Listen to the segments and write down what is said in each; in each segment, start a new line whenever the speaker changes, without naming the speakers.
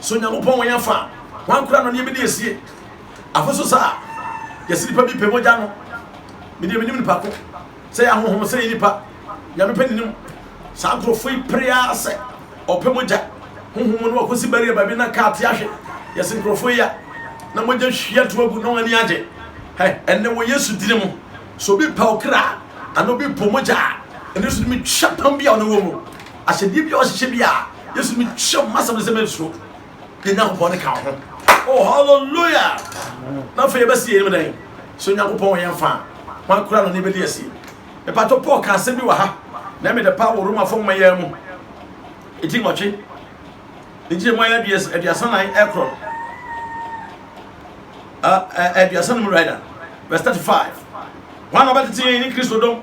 So Nyankopɔn wɔ yɛn afa? Hwan koraa na ɔne yɛn bedi asie? Afei nso saa yɛse nnipa bi pɛ mogya no, me deɛ menim nipa ko sɛ ɛyɛ ahonhom sɛ ɛyɛ nipa, Nyame pɛ nenim. Saa nkorɔfoɔ yi pere ara sɛ ɔpɛ mogya, honhom mu na wɔakɔsi barrier baabi na car te ahwe, yɛse nkorɔfoɔ yi a na mogya hwie ato agu na wɔn ani agye hɛ ɛnnɛ wɔ Yesu dini mu. Sɛ obi pɛ ɔkra anaa obi pɔ mogya a, ɛno nso tumi twa kwan bi a ɔne wɔ mu. Ahyɛdeɛ biara ɔhyehyɛ bi a Yesu mi kyerɛ mo asɛm no sɛ mensuro. Yɛ Nyankopɔn ne ka wo ho. Oh hallelujah! Na afei yɛbɛsi yɛn mu dɛn? So Nyankopɔn wɔ yɛn fa? Hwan kura no ne bɛdi asie? Mepatɔ Paul ka asɛm bi wɔ ha na ɛmɛ dɛ paa wɔ Romafo nwoma yɛ mu. Eti nwɔtwe. Ne nkyerɛ mu ayɛ aduasa nan ɛkorɔ no. Aduasa no mu rider. Verse 35. Hwan na ɔbɛtete yɛn ne Kristo dom?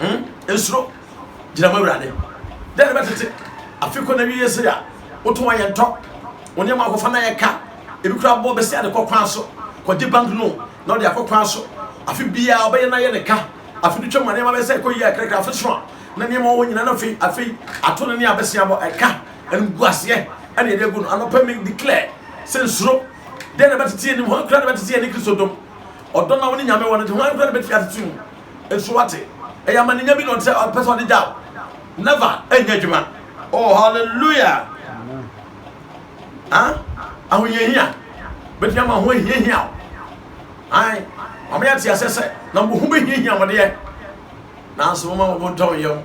Hmm? Nsuro. Gyina mu awurade. Dɛn bɛ tete? Afi kɔ na wiye sere a. Woto wɔn yɛn tɔ. Wɔn nneɛma akɔfa na yɛ ka. Ebi kura bɔ bɛsi ade kɔ kwan so. Kɔgye bank no na ɔde akɔ kwan so. Afi biara ɔbɛyɛ na yɛ ne ka. Afi de twam nneɛma bɛsɛ ɛkɔ yie akrakra afi so a. Na nneɛma wɔwɔ nyinaa na afei afei ato no ne abɛsi abɔ ɛka. Ɛnum gu aseɛ. Ɛna yɛde agu no. Anɔpɛ mi declare sɛ nsuro. Dɛn na bɛtete anim hɔ kura na bɛtete yɛn ne Kristo dom. Ɔdɔ na wɔn ne nyame wɔ no de ho kura na bɛtumi atete mu. So wate? Ɛyɛ amaninya bi na ɔde sɛ ɔpɛ sɛ ɔde gyaw. Never ɛnyɛ adwuma. Oh hallelujah. Ah, ahohiahia bɛtumi ama ho ahiahia o. Ae, wɔn yɛ te aseɛ sɛ na mo ho bɛhiahia mo deɛ. Nanso wɔn a wɔn ntɔn yam.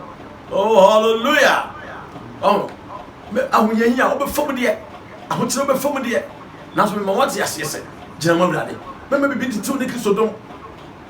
Oh hallelujah. Oh, ahohiahia wobɛfa mu deɛ. Ahokyerɛ wobɛfa mu deɛ. Nanso mema wɔte aseɛ sɛ gyina mo awurade. Mɛma bibi titiw ne Kristo dom.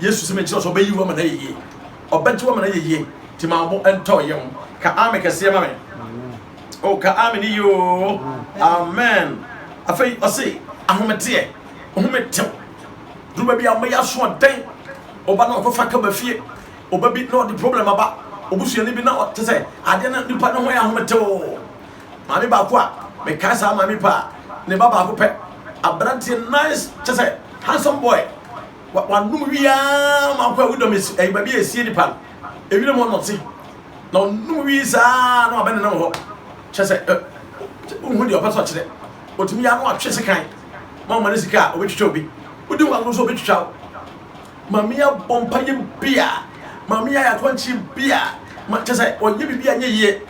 Yesu se mekyerɛ wo sɛ ɔbɛyi wo ama no ayɛ yie. Ɔbɛgye wo ama no ayɛ yie. Nti ma wo bo ntɔ wo yam. Ka amen kɛseɛ ma me. O ka amen yie oo. Amen. Afei ɔse ahometeɛ. Ohome tew. Duru baabi a wɔbɛyɛ asoɔden. Ɔba na ɔkɔfa ka ba fie. Ɔba bi na ɔde problem aba. Obusuani bi na ɔte sɛ adeɛ na nipa ne ho yɛ ahometew. Maame baako a mekae saa maame paa. Ne ba baako pɛ. Aberanteɛ nice kyɛ sɛ handsome boy. Wanom wie ara ma akɔ awudɔm esi ɛyɛ baabi a esie nipa no ewira mu ɔnɔte na ɔnom wie saa na wabɛn nenam hɔ kyɛ sɛ wohu deɛ ɔpɛ sɛ ɔkyerɛ ɔtumi yɛ ano atwe sekan ma ɔma no sika a ɔbɛtwitwa obi wodi ho agoro sɛ ɔbɛtwitwa wo maame yɛ abɔ mpa yɛ bi a maame yɛ ayɛ akɔnkye bi a kyɛ sɛ ɔnyɛ biribi a nyɛ yie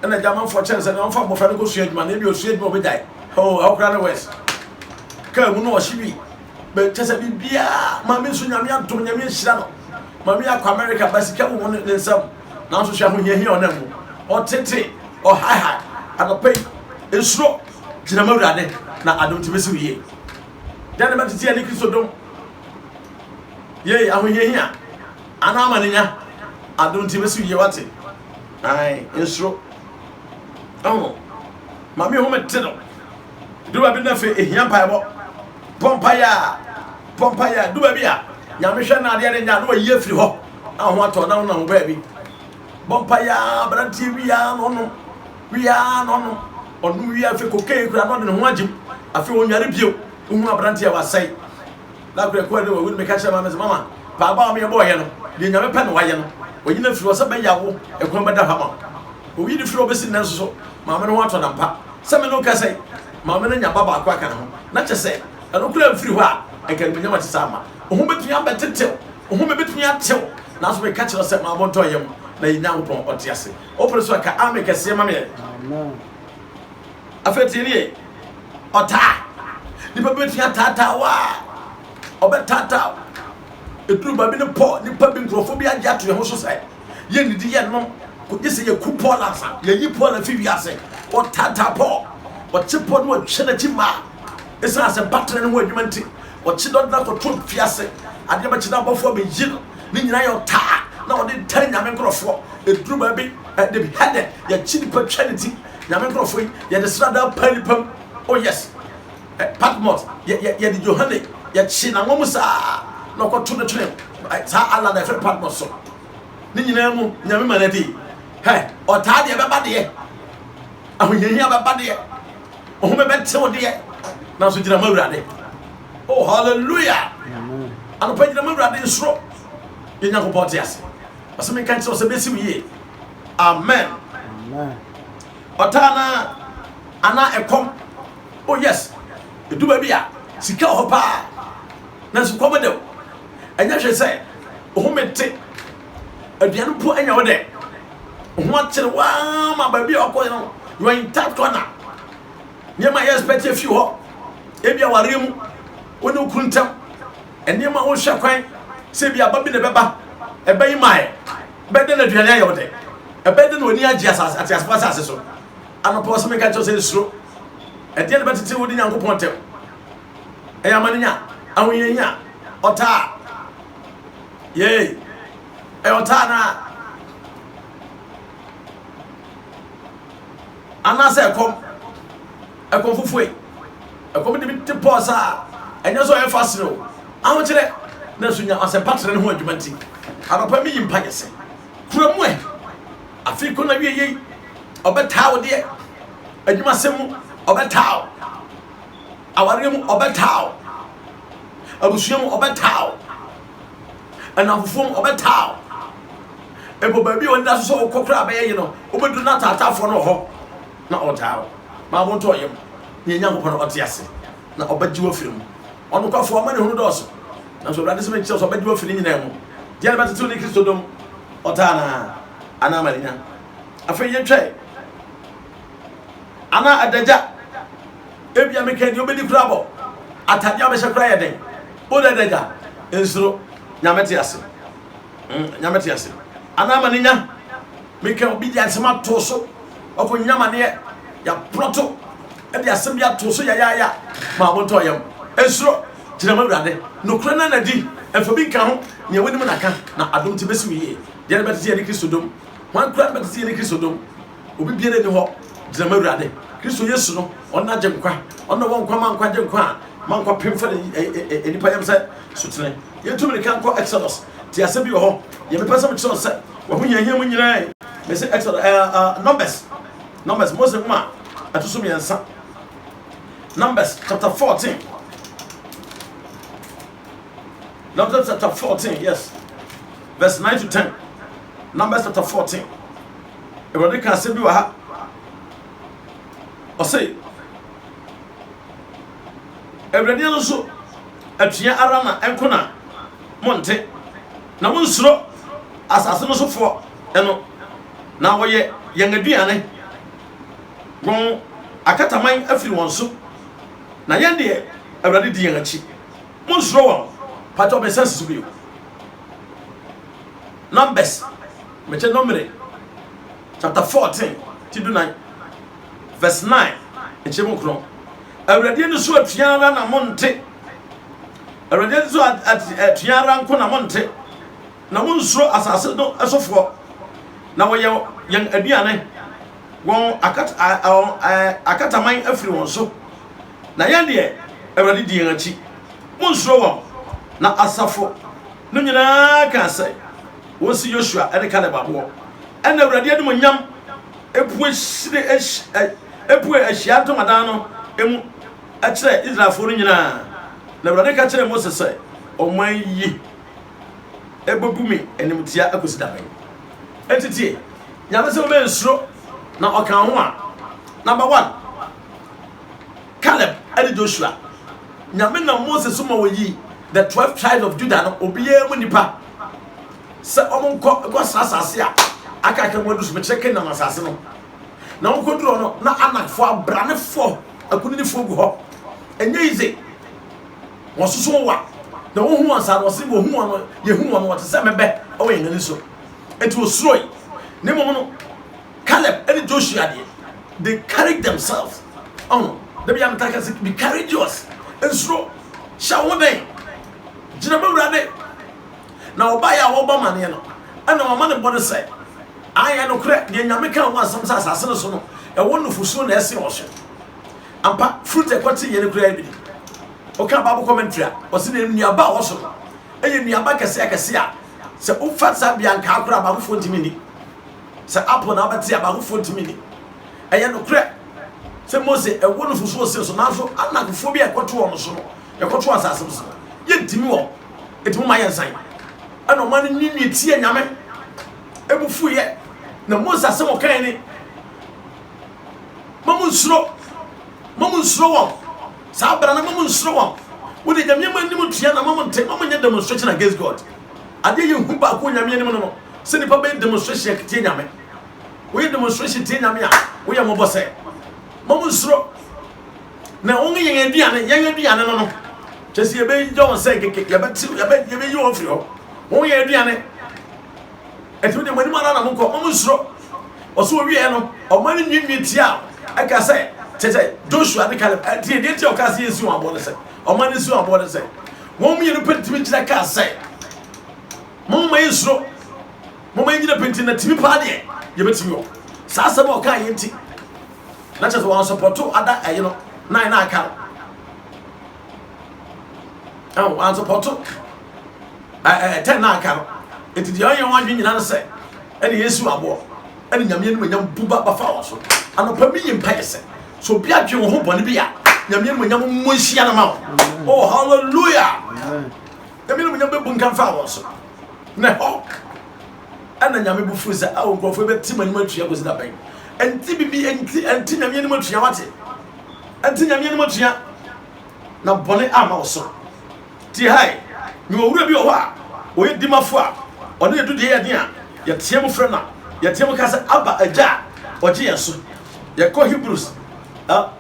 ɛna gya amanfoɔ kyɛn sɛ na ɔmfa mmɔfra no kɔsua adwuma na ebi ɔsua adwuma ɔbɛgyae ɛwɔ koraa no west kaa mu na ɔhye bi bɛ kyɛ sɛ biribiara maame nso nyame adom nyame ahyira no maame akɔ amerika ba sika wɔ mu ne nsam nanso hwɛ ahohiahia ɔnam mu ɔtete ɔhaehae anɔpa yi nsuro gyina ma awurade na adom te bɛsi wo yie dɛn ne bɛtete yɛ ne kristo dom yei ahohiahia anaa ma ne nya adom te bɛsi wo yie wate ae nsuro ɛho maame ho mete no Du baabi na afei ehia mpaebɔ. Bɔ mpaeɛ a, bɔ mpaeɛ a. Du baabi a Nyame hwɛ na adeɛ renyɛ a, na wayi afiri hɔ na ho atɔ na wonam baabi. Bɔ mpaeɛ a, aberanteɛ wie a na ɔnom, wie a na ɔnom. Ɔnom wie a afei kokain kura na ɔde ne ho agyem. Afei ɔnware bio. Wohunu aberanteɛ a wasɛe. Na prɛko a na wawu no, meka kyerɛɛ Maame sɛ, Mama, paabɔ a me bɔɔ yɛ no, deɛ Nyame pɛ na wayɛ no. Wayi no afiri hɔ sɛ bɛyɛ a wo ɛkwan bɛda hɔ ama wo. Owii no firi hɔ bɛsi nnɛ nso so, Maame no ho atɔ no ampa. Sɛ me ne wo kasa yi, Maame no anya ba baako aka ne ho. Na kyerɛ sɛ, ɛno koraa mfiri hɔ a, anka animuonyam a ɛte saa mma. Wo ho bɛtumi abɛtetew, wo home bɛtumi atew, nanso meka kyerɛ wo sɛ, Maame ntɔ yam, na yɛ Nyankopɔn, Ɔte ase. Wopere so a, ka Amen kɛseɛ ma me ɛ. Amen. Afei tie nie, ɔtaa. Nipa bi bɛtumi ataataa wo a, ɔbɛtaataa wo. Ɛduru baabi no pɔ nipa bi nkurɔfoɔ bi agye ato yɛn ho so sɛ yɛnnidi yɛnnom kɔgye sɛ yɛku Paul ansa. Yɛyi Paul afi wiase. Ɔtaataa Paul. Ɔkye Paul na ɔtwe n'akyi mmaa. Ɛsiane sɛ battery no ho adwuma nti, ɔkye dɔn na kɔto fiase. Adeɛ bɛkye na abɔfoɔ abɛyi no. Ne nyinaa yɛ ɔtaa na ɔde taa Nyame nkurɔfoɔ. Ɛduru baabi, they be headed. Yɛkye nipa twa ne ti. Nyame nkurɔfoɔ yi, yɛde sradaa paa nnipa mu. Oh yes. Eh, Patmos, yɛ, yɛ, yɛde Johane, yɛkye n'anwa mu saa, na ɔkɔto no twene eh, saa ala na ɛfrɛ Patmos so. Ne nyinaa mu, Nyame ma no adi. Hɛ, ɔtaa deɛ bɛba deɛ, ahohiahia bɛba deɛ, ɔhome bɛtew deɛ, nanso gyina ma Awurade. Oh, hallelujah! Anɔpa gyina ma Awurade nsoro. Yɛ Nyankopɔn te ase. Ɔsɛ menka nkyerɛ wo sɛ bɛsi wo yie. Amen. Amen. Ɔtaa na ana ɛkɔm. Oh yes. Edu baabi a sika wɔ hɔ paa. Nanso kɔm de wo. Ɛnyɛ hwɛ sɛ ohome te. Aduane mpo anya wo dɛ. Ho akyere waa ma baabi a ɔkɔ no you are in tight corner. Nneɛma a yɛ expect afi hɔ. Ebi awareɛ mu. Wo ne wo kunu ntam. Nneɛma a wohwɛ kwan sɛ ebi aba bi na ɛbɛba. Ɛbɛyi mae. Ɛbɛyɛ dɛn na aduane ayɛ wo dɛ? Ɛbɛyɛ dɛn na w'ani agye asase, ateasefo asase so? Anɔpa ɔsɛ meka kyerɛ sɛ nsuro. Ɛdeɛn na ɛbɛtete wo ne Nyankopɔn ntam? Ɛyɛ amanenya, ahohiahia, ɔtaa. Yei, ɛyɛ ɔtaa naa. Anaasɛ ɛkɔm. Ɛkɔm fofue. Ɛkɔm de bi te pɔs a ɛnyɛ sɛ ɔyɛ fa serew, ahokyerɛ, na nso nya ɔsɛmpa tena ne ho adwuma nti. Anɔpa miyi mpaeɛ sɛ, Kura mu ɛ! Afe koro no awieeɛ yi, ɔbɛtaa wo deɛ. Adwumasɛm mu, ɔbɛtaa wo. Awareɛ mu, ɔbɛtaa wo. Abusua mu, ɔbɛtaa wo. Nnamfofoɔ mu, ɔbɛtaa wo. Mpo baabi a wɔda so sɛ wokɔ koraa bɛyɛ ye no, wobɛduru no ataataafoɔ no wɔ hɔ. na ɔtaa wo, ma wo ntɔɔ yam, nea Nyankopɔn a ɔte ase na ɔbɛgye wo afiri mu. Ɔnokwafo amanehunu dɔɔso, nanso Awurade se menkyerɛ wo sɛ ɔbɛgye wo afi ne nyinaa mu. Deɛn na ɛbɛtete wo ne Kristo dom? Ɔtaa no aa, anaa mannya? Afei yɛtwae, anaa adagya? Ebia mekaa deɛ ɔbɛdi koraa bɔ, atadeɛ a ɔbɛhyɛ koraa yɛ den. Wo de adagya, nsuro, Nyame te ase. mm, nyame te ase anaa ma ne nya meka obi de asɛm ato so ɔkɔ nya ma neɛ yɛaprɔto ɛde asɛm bi ato so yayaya ma abontɔ yam ɛnsuro gyina ma awurade nokorɛ na nadi ɛmfa bi nka ho nea wonim na ka na adom te bɛsi wo yie deɛ no bɛtete yɛ ne kristo dom wankura no bɛtete yɛ ne kristo dom Obi biara ni hɔ gyina ma Awurade Kristo Yesu no ɔno agye nkwa ɔno wɔ nkwa ma nkwa gye nkwa a ma nkwa pem fɛ ne nipa yam sɛ sotene yɛtu mmirika nkɔ Exodus te asɛ bi wɔ hɔ yɛ mepɛ sɛ mekyerɛ sɛ wɔho hiahia mu nyinaa mese Exodus eh, uh, Numbers Numbers Mose nwoma ɛto so mmiɛnsa Numbers chapter 14 Numbers chapter 14 yes verse 9 to 10 Numbers chapter 14 Awurade ka asɛm bi wɔ ha. Ɔse, Awurade ano so atua ara na ɛnko na monte, na monsuro asase no sofoɔ no, na wɔyɛ yɛn aduane. Wɔn akataman afiri wɔn so, na yɛn deɛ, Awurade di yɛn akyi. Monsuro wɔn. Pakyɛ ɔbɛsan si so bio. Numbers. Mekyɛ Nomere chapter fourteen ti dunan verse nine nkyɛmu nkron Awurade ani so atua ara na mo nte Awurade ani so atua ara nko na mo nte na mo nsuro asase no sofoɔ na wɔyɛ yɛn aduane wɔn akat akataman afiri wɔn so na yɛn deɛ Awurade di yɛn akyi mo nsuro wɔn na asafo no nyinaa ka sɛ. wɔsi Yosua ne Kaleb aboɔ. Ɛnna Awurade animuonyam pue puee Ahyiae Ntamadan no mu kyerɛɛ Israelfoɔ no nyinaa. Na Awurade ka kyerɛɛ Mose sɛ, Ɔman yi bɛbu me animtia akɔsi da bɛn? Enti tie Nyame sɛ wobɛyɛ nsuro. Na ɔkaa ho a, Number one, Kaleb ne Joshua, Nyame nam Mose so ma wɔyii the twelve tribes of Judah no obiara mu nnipa. sɛ wɔnkɔ nkɔ saa asase a aka aka mu adu so mekyerɛ Kanaan asase no na wɔkɔdurɔ no na anakfoɔ abranefoɔ akuninifoɔ gu hɔ ɛnyɛ yize wɔsoso wa na wɔhu wɔn saa na wɔse wɔhu wɔn no yɛhu wɔn no wɔte sɛ mɛbɛ ɛwɔ yɛn ani so ɛti wɔsuroi ne mmom no Caleb ɛne Joshua deɛ they carried themselves ɔho dabi ametaka se be courageous nsuro hyɛ wo den Gyina mu Awurade, na ɔbaeɛ a ɔrebɔ amaneɛ no, ɛna wama ne bɔne sɛ, Aane, nokorɛ, deɛ Nyame kaa ho asɛm sɛ asase no so no, ɛwɔ nufosuo na ɛsen wɔ so. Ampa, fruit a ɛkɔte yɛn no koraa bi ni. Woka Bible commentary a, wɔse ne nnuaba a ɛwɔ so no, ɛyɛ nnuaba kɛse akɛse a, sɛ wofa saa bia ankaa koraa baako foɔ ntumi nni. Sɛ apple na wobɛte a, baako foɔ ntumi nni. Ɛyɛ nokorɛ sɛ Mose, ɛwɔ nufosuo sen so, nanso anakfoɔ bi a ɛkɔto wɔn so no, Yɛkɔto asase no so, yedi mu wɔ edi mu ma yɛnsan. Ɛna ɔman no nyin nyin tiee Nyame, emu fuiɛ, na Mose asɛm ɔkae ni, Ma mo nsuro, ma mo nsuro wɔn, saa berɛ no ma mo nsuro wɔn, wode Nyame ma anim tua na ma mo nte, ma mo nyɛ demonstration against God. Adeɛ yɛ hu baako Nyame anim no no, sɛ nipa bɛyɛ demonstration atie Nyame. Woyɛ demonstration tie Nyame a, woyɛ mɔbɔ sɛ, ma mo nsuro. na wɔn yɛn aduane yɛn aduane no no kyɛ sɛ yɛbɛyɛ wɔn sɛ keke yɛbɛte yɛbɛ yɛbɛyi wɔn firi hɔ wɔn yɛn aduane ɛtumi de wɔn anim ara na wɔn kɔ wɔn nsoro ɔso owieɛ no ɔma no nwiinwii tia ɛka sɛ kyɛ sɛ Joshua ne Caleb ɛtie deɛ nti ɔka sɛ yɛnsi wɔn aboɔ no sɛ ɔma no nsi wɔn aboɔ no sɛ wɔn mmienu pɛ tumi gyina ka sɛ mo mma yi nsoro Momma yɛnyina pintinn na tumi paa deɛ yɛbɛtumi wɔ saa asɛm a ɔkaa yɛ nti. Na kyerɛ sɛ wansɔpɔto ada ɛye no nan na aka no. Ɛho wansɔpɔto ɛɛ tɛn na aka no. Eti deɛ ɔyɛ wɔn adwene nyinaa no sɛ ɛne yɛn siw aboɔ ɛne nyame anim nyam bu ba bafa wɔn so. Anɔpa mi yɛ mpa yɛ sɛ sɛ obi adwene wɔn ho bɔne bi a nyame anim nyam mmɔ nhyia no ma wɔn. Oh hallelujah. Nyame animuonyam bɛbunkam faa wɔn so. Na ɛhɔ ɛna Nyame bo fuu sɛ, ao nkurɔfoɔ bɛte mo anim atua kɔsi da bɛn? Ɛnte bibi, ɛnte, ɛnte Nyame anim atua, wate? Ɛnte Nyame anim atua, na bɔne amma wo so. Tie ha ɛ, mewɔ owura bi wɔ hɔ a, ɔyɛ dimafo a, ɔne yɛdu deɛ yɛden a, yɛteɛ mo frɛ no a, yɛteɛ mo ka sɛ, Abba, Agya a, ɔgye yɛn so. Yɛkɔ Hebrews, ah,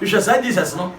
Hwehwɛ saa Jesus no.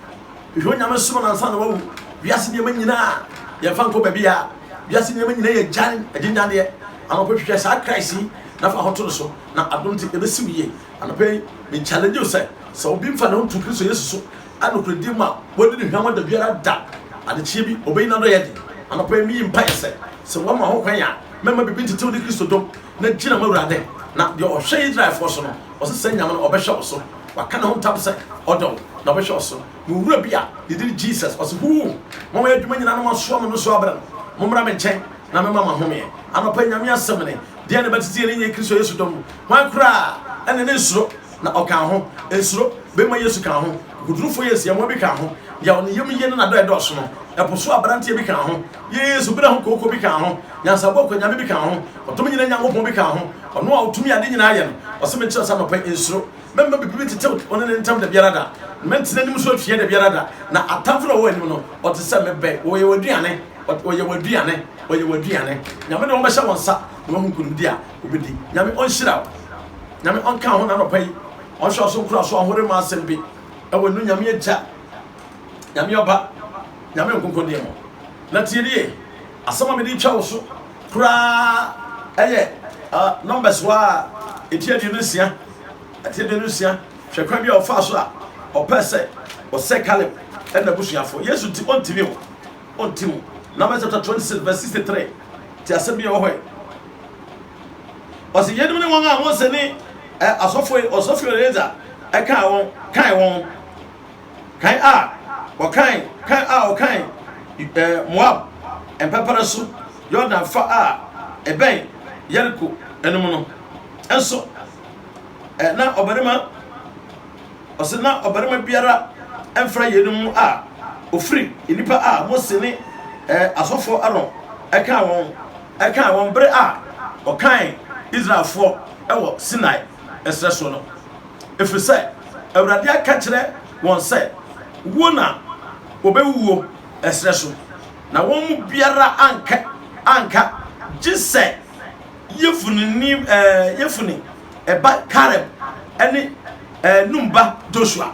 Hwehwɛ Onyame som no ansa na wawu. Wiase nneɛma nyina a, yɛmfa nkɔ baabi a. Wiase nneɛma nyina yɛ gyan, agyengyan deɛ. Anɔpa yi hwehwɛ saa Christ yi na fa ho to no so na adom nti ɛbɛsi wo yie. Anɔpa yi me challenge wo sɛ, sɛ obi mfa ne ho nto Kristo Yesu so a nokorɛdie mu a, wadi no hwammɔ da biara da. Adekyeɛ bi ɔbɛyi n'adɔyɛde. Anɔpa yi meyi mpaeɛ sɛ, sɛ woama ho kwan a, mɛma biribi ntete wo ne Kristo dom. na gyina m'Awurade, na deɛ ɔhwɛ Israelfoɔ so no, ɔse saa Nyame no ɔbɛhwɛ wo so, waka ne ho ntam sɛ ɔdɔ wo, na ɔbɛhwɛ wo so. Mewɔ wura bi a ne din Jesus, ɔse huu, ma wɔyɛ adwuma nyina na moasoa me no so abrɛ no, mommra me nkyɛn na mɛma mo ahomeɛ. Anɔpa yi Nyame asɛm ne, deɛ ne bɛtete yɛne nyɛ Kristo Yesu dɔ mu, hwan koraa ne ne nsuro, na ɔkaa ho, nsuro, bɛmma Yesu kaa ho, kokodurufoɔ Yesu yɛmoa bi kaa ho, deɛ ɔne yam yie ne nadɔ ɛdɔɔso no, ɛpo so abranteɛ bi kaa ho, Yɛɛ su bena ho kooko bi kaa ho, nyansabɔ akwanyame bi kaa ho, ɔdom nyina Nyankopɔn bi kaa ho, ɔno a ɔtumi ade nyina yɛ no, ɔse me nkyerɛ sɛ anɔpa yi nsuro, mɛmma biribi bɛtetew wone ne ntam dabiara da, mɛntena anim so atua dabiara da, na atamfo no a ɔwɔ anim no ɔte sɛ me bɛ, ɔyɛ w'aduane, ɔyɛ w'aduane, ɔyɛ w'aduane, Nyame de wɔn bɛhyɛ wɔn nsa na wɔahu nkonimdi a wɔbɛdi, Nyame ɔnhyira wo, Nyame ɔnka ho, na anɔpa yi ɔnhwɛ wo so nkora so, ahoremaa asɛm bi wɔ no, Nyame Agya Nyame ɔba, Nyame nkonko deɛ no. Na tie nie, asɛm a mede retwa wo so koraa yɛ Numbers hɔ a ɛti aduonu nsia, ɛti aduonu nsia. Hwɛ kwan bi a ɔfaa so a ɔpɛɛ sɛ ɔsɛ Caleb ɛna abusuafoɔ. Yesu nti ɔntimi o, ɔnti o. Numbers chapter 26 verse 63, te asɛm bi a ɛwɔ hɔ yi. Ɔsɛ yeinom ne wɔn a Mose ne asɔfoɔ Ɔsɔfoɔ Eleazar ɛkaa wɔn, kae wɔn. Kan a wɔkan kan a wɔkan ɛɛ Moab mpɛpɛrɛ so Yordan fa a ɛbɛn Yeriko no mu no nso, ɛ na ɔbarima ɔsɛ na ɔbarima biara mfra yeinom mu a ofiri nnipa a Mose ne ɛ asɔfoɔ Aaron ɛkan wɔn ɛkan wɔn bere a wɔkan Israelfoɔ wɔ Sinai ɛserɛ soɔ no. ɛfiri sɛ Awurade aka akyerɛ wɔn sɛ, Wuo na wɔbɛwuo ɛserɛ so, na wɔn mu biara anka anka gye sɛ Yefuneni Yefune ba Kaleb ne Nun ba Josua.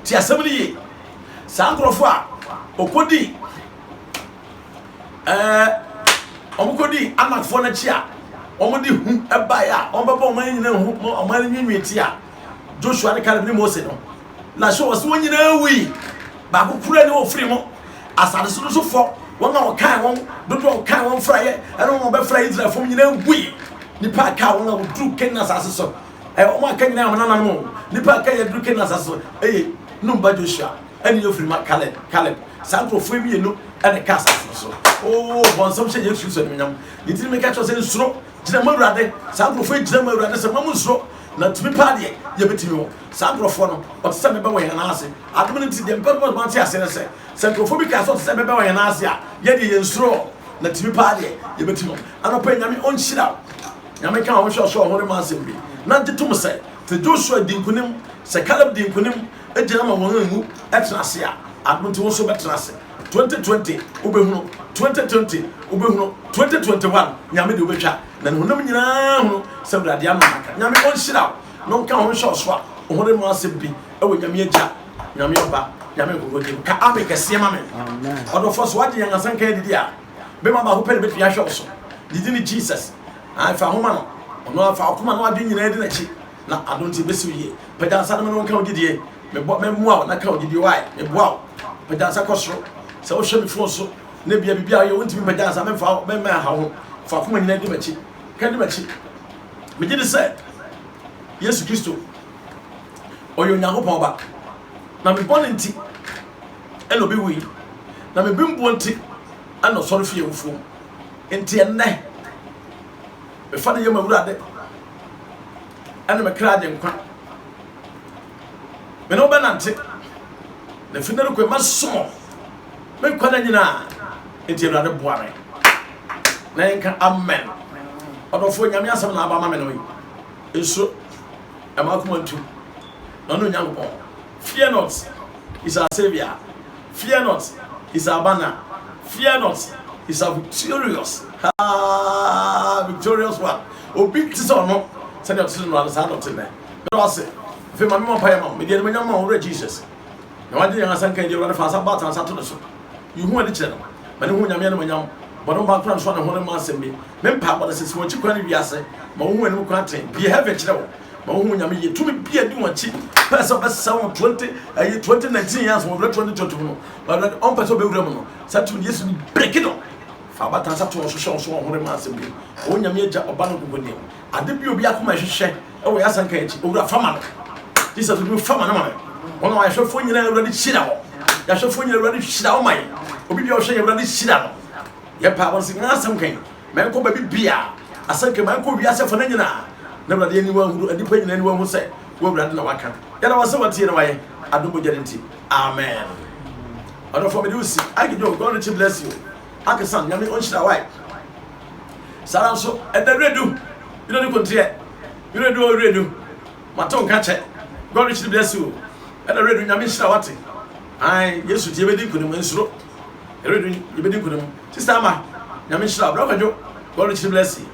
Tie asɛm no yie. Saa nkurɔfoɔ a wɔkɔdii ɛɛ wɔn kɔdi anakfoɔ no akyi a wɔn de hu baeɛ a wɔn bɛbɔ wɔn nyinaa ho wɔn ani nwiinwii te a joshua ne kaleb ne mose no na so wɔ so wɔn nyinaa wui baako kura ne wɔfiri mu asade so no so fɔ wɔn a wɔkan wɔn dodoɔ a wɔkan wɔn fraeɛ ɛne wɔn bɛfra israelfoɔ nyinaa wui nipa a kaa wɔn a wɔduru kenya asase so ɛɛ wɔn a ka nyinaa wɔn nananom nipa a ka yɛ duru kenya asase so ɛyɛ numba joshua ɛne yɛfiri ma kaleb kaleb saa nkurɔfoɔ mmienu ɛne ka asase no so oo bɔnsɛm hyɛ yesu kristo animonyam ne ti no meka kyerɛ sɛ nsuro gyina ma awurade saa nkurɔfoɔ gyina ma awurade sɛ ma mo nsuro na tumi paa deɛ yɛbɛtumi wɔ saa nkurɔfoɔ no ɔte sɛ mebɛ wɔ yɛn nan ase adom no nti deɛ mpɛ no ma te ase no sɛ sɛ nkurɔfoɔ bi kaa sɛ ɔte sɛ mebɛ wɔ yɛn nan ase a yɛdeɛ yɛn nsuro na tumi paa deɛ yɛbɛtumi wɔ anɔpɛ nyame ɔnhyira wo nyame ka wɔn hwɛ ɔsoro ɔhore ma asɛm bi na gye tom sɛ sɛ joshua di nkonim sɛ caleb di nkonim Gyina ma wɔn nwu tena ase a ano nti wo nso bɛtena ase 2020 wobɛhunu 2020 wobɛhunu 2021 nyame de wobɛtwa na ne honam nyinaa hunu sɛ awurade ano naka nyame ɔnhyira wo na ɔnka ho nhyɛ ɔso a ɔhore mu asɛm bi ɛwɔ nyame agya nyame ɔba nyame nkokoro din ka ame kɛseɛ ma me ɔdɔfoɔ so wagye yɛn asɛnka adidi a bɛma baako pɛ ne bɛtumi ahwɛ wo so didi ne jesus ɛfa homa no ɔno afa ɔkoma no adwe nyinaa di n'akyi na adom nti mesi wo yie. Pagya nsa na me ne wo nka wo gyidie. Mebɔ mɛmoa wo na ka wo gyidie wae. Meboa wo. Pagya nsa kɔ soro. Sɛ wohwɛ me fon so na bia biribi a woyɛ wontumi mpagya nsa memfa wo mɛmma aha wo ho. Fa akoma nyinaa di m'akyi. Ka di m'akyi. Megye di sɛ Yesu Kristo ɔyɛ Onyankopɔn ba. Na me bɔne nti ɛna obi wui. Na me bembuo nti ɛna ɔsɔre fii awufoɔ mu. Nti ɛnnɛ mefa ne yɛ m'awurade. ɛne me kra agyenkwa. Me ne wo bɛnante, na fi nnɛ rekɔ yi mɛsom wo me nkwa nna nyinaa. Enti Awurade boa me na yɛnka amen. Ɔdɔfoɔ Nyame asɛm na aba ama me no yi. Nsuro, ɛma akoma ntu, na ɔne Onyankopɔn. Fear not, He's our Saviour, Fear not, He's our banner, Fear not, He's our victorious, Haa, victorious one. Obi te sɛ ɔno, sɛdeɛ ɔte no ano, saa na ɔte nnɛ. Meda wo ase. Afei ma me mmɔ mpaeɛ ma wo. Mede animuonyam ma wo, Owura Jesus. Na wagye yɛn asanka agye, Awurade fa nsa baatan nsa to ne so. Yi ho adi kyerɛ no. Ma ne ho Onyame animuonyam. Bɔ ne ho ban kora no so a ne ho remma asɛm bi. Me mpaebɔ ne sɛ, si wɔn akyi kwan ne wiase. Ma wɔnhu w'anim kwan tee. Bue heaven kyerɛ wɔn. ma wɔn ho nyame yie tumi bi a di wɔn akyi pɛ sɛ ɔbɛsɛn wɔn twenty ɛyi twenty nineteen yɛn so wɔn fɛ twenty twenty mu no wɔn fɛ ɔmpɛ sɛ ɔbɛwura mu no saa tumi no yesu no breki no fa abatan sa to wɔn so hyɛ wɔn so wɔn ho rema asɛm bi wɔn nyame agya ɔba no nkoko nie ade bi obi akoma ɛhwehwɛ ɛwɔ yɛ asanka akyi owura fama no jesus obi fama no ma no wɔn a wɔahwɛfoɔ nyinaa awurade hyira wɔn yɛahwɛfoɔ nyinaa awurade hyira wɔn ma yɛ obi bi a ɔhwɛ yɛ awurade hyira no yɛpɛ abɔnsen asɛm kan Mankɔ baabi biaa, asɛnka mankɔ wiase afa no nyinaa, na Awurade aniwa ahunu, nnipa nyinaa aniwa ahu sɛ wo Awurade na waka. Yɛda wo ase watie na wayɛ, adom mogya no nti. Amen. Ɔdɔfoɔ mede wo si. Ike John, God richly bless you. Akesan, Nyame ɔnhyira wo. Ike. Saa ara nso, ɛda Wiredu, Wiredu Konteɛ, Wiredu o Wiredu, mato nka kyɛ. God richly bless you. Ɛda Wiredu, Nyame nhyira wo ate. Ae, Yesu nti yɛbɛdi nkunim, nsuro. Yɛbɛyɛ dun, yɛbɛdi nkunim. Sister Ama, Nyame nhyira wo. Bra Kwadwo, God richly bless you.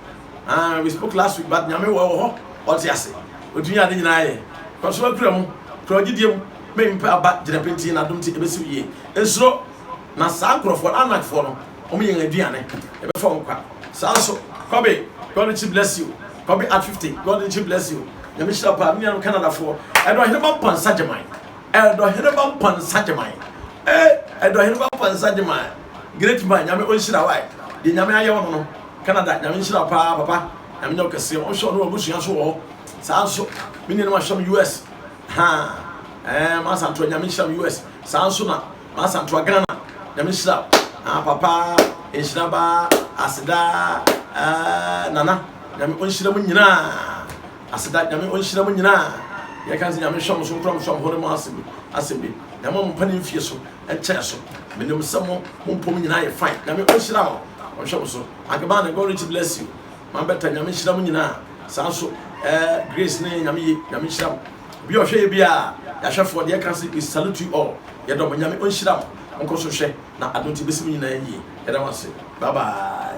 Ah, we spoke last week, but Nyame wɔ hɔ, ɔte ase. Otumi a ade nyinaa yɛ. Kɔ so akura mu, kura gyidie mu. May mpɛ aba, gyina pintinn, n'adom nti ɛbɛsi wo yie. Nsuro, na saa nkurɔfoɔ no, Anakfoɔ no, wɔn yɛn aduane. Yɛbɛfa wɔn kwa. Saa nso, Kɔbe, God richly bless you. Kɔbe at 50, God richly bless you. Nyame nhyira wo paa. Me nuanom Canadafoɔ, ɛne Ɔhene Mampa Nsagyeman. Ɛdɔheneba Mpansagyemai eh Ɛdɔheneba Mpansagyemai Great man Nyame ɔnhyira wo Deɛ Nyame ayɛ wo no no Canada Nyame nhyira wo paa papa Nyame nyɛ wo kɛseɛ Ɔnhwɛ wo ne w'abusua nso wɔ hɔ saa nso Me nuanom ahwɛ me US haa eh M'asantewa Nyame nhyira me US saa nso na M'asantewa Ghana Nyame nhyira wo haa papa Nhyira baa Asedaa eh Nana Nyame ɔnhyira mo nyinaa Aseda Nyame onhyira mo nyinaa yɛka dze Nyame nhyɛ mo so nkura mo so amhore mo asem asem bi na ɛma mo mpa ne mfie so nkyɛɛ so menim sɛ mo mo mpɔ mu nyinaa yɛ fine Nyame onhyira o ɔnhwɛ mo so Agbane God richly bless you man better Nyame nhyira mo nyinaa saa nso ɛɛ Grace ne Nyame ye Nyame nhyira mo obi a ɔhwɛ yɛ biaa yɛahwɛfoɔ deɛ ɛka se we salute you all yɛdɔ mo Nyame onhyira mo monkɔ so hwɛ na adom nti besi mo nyinaa yie yɛda mo ase bye bye.